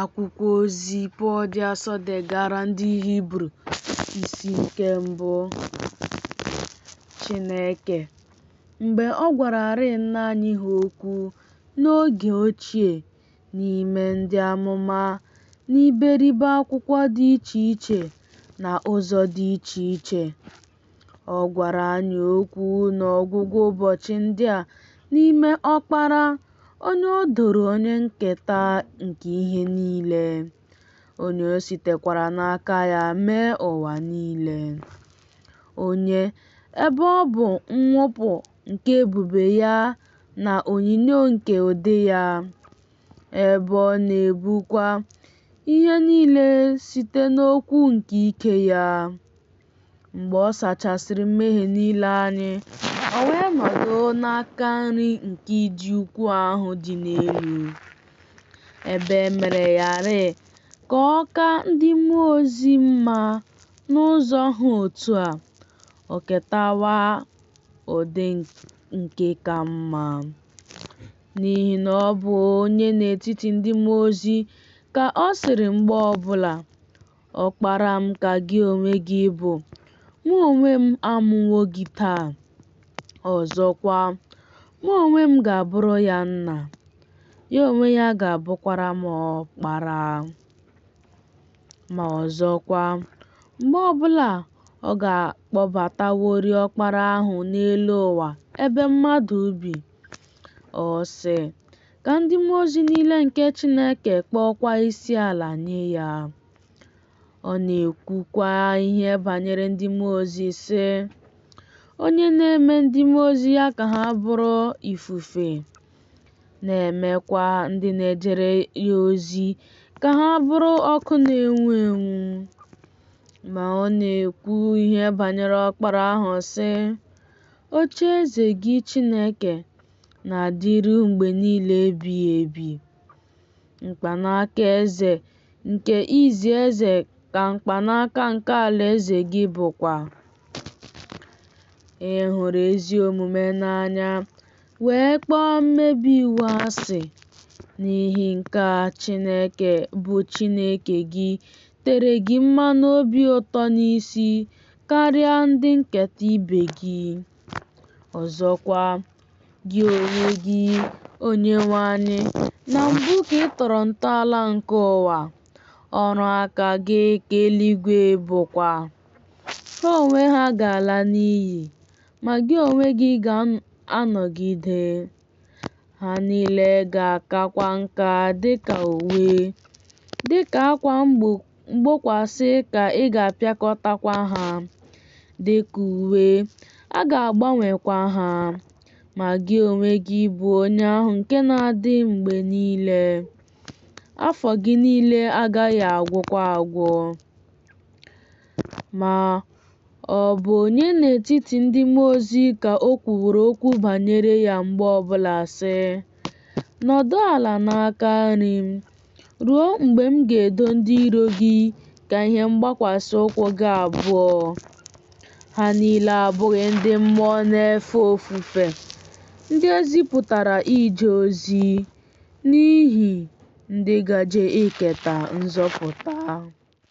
Akwụkwọ ozi Pọl dị asọ degara ndị Hibru isi nke mbụ Chineke mgbe ọ gwararị nna anyị ha okwu n'oge ochie n'ime ndị amụma n'iberibe akwụkwọ dị iche iche na ụzọ dị iche iche. Ọ gwara anyị okwu n'ọgwụgwụ ụbọchị ndị a n'ime Ọkpara, onye o doro onye nketa nke ihe niile, onye o sitekwara n'aka ya mee ụwa niile, onye, ebe ọ bụ nwupụ nke ebube ya na onyinyo nke ụdị ya, ebe ọ na-ebukwa ihe niile site n'okwu nke ike ya. Mgbe ọ sachasịrị mmehie niile anyị, o wee nọdụ n'aka nri nke ịdị ukwu ahụ dị n'elu, ebe e mere ya rị ka ọ ka ndị mmụọ ozi mma. N'ụzọ ha otu a, o ketawa ụdị nke ka mma, n'ihi na ọ bụ onye n'etiti ndị mmụọ ozi, ka ọ sịrị mgbe ọ bụla. Ọkpara m ka gị onwe gị bụ, mụ onwe m amụwo gị taa. Ọzọkwa, mụ onwe m ga-abụrụ ya nna, ya onwe ya ga-abụkwara m ọkpara. Ma ọzọkwa, mgbe ọbụla ọ ga-akpọbataworị ọkpara ahụ n'elu ụwa ebe mmadụ bi, ọ sị, Ka ndị mmụọ ozi niile nke Chineke kpọọkwa isi ala nye ya. Ọ na-ekwukwa ihe banyere ndị mmụọ ozi sị, Onye na-eme ndị mmụọ ozi ya ka ha bụrụ ifufe, na-emekwa ndị na-ejere ya ozi ka ha bụrụ ọkụ na-enwu enwu. Ma ọ na-ekwu ihe banyere Ọkpara ahụ sị, Ocheeze gị Chineke na-adịru mgbe niile ebighị ebi. Mkpanaka eze nke izi ezi ka mkpanaka nke alaeze gị bụkwa. Ị hụrụ ezi omume n'anya, wee kpọọ mmebi iwu asị. N'ihi nke a Chineke bụ Chineke gị tere gị mmanụ obi ụtọ n'isi karịa ndị nketa ibe gị. Ọzọkwa, gị onwe gị, Onyenwe anyị, na mbụ ka ị tọrọ ntọala nke ụwa, ọrụ aka gị ka eluigwe bụkwa. Ha onwe ha ga-ala n'iyi, ma gị onwe gị ga-anọgide. Ha niile ga-akakwa nka dị ka uwe, dị ka akwa mgbokwasị ka ị ga-apịakọtakwa ha dị ka uwe, a ga-agbanwekwa ha. Ma gị onwe gị bụ onye ahụ nke na-adị mgbe niile. Afọ gị niile agaghị agwụkwa agwụ. Ma, ọ bụ onye n'etiti ndị mmụọ ozi ka o kwuworo okwu banyere ya mgbe ọ bụla, sị, Nọdụ ala n'aka nri m ruo mgbe m ga-edo ndị iro gị ka ihe mgbakwasị ụkwụ gị abụọ? Ha niile abụghị ndị mmụọ na-efe ofufe, ndị e zipụtara ije ozi n'ihi ndị gaje iketa nzọpụta.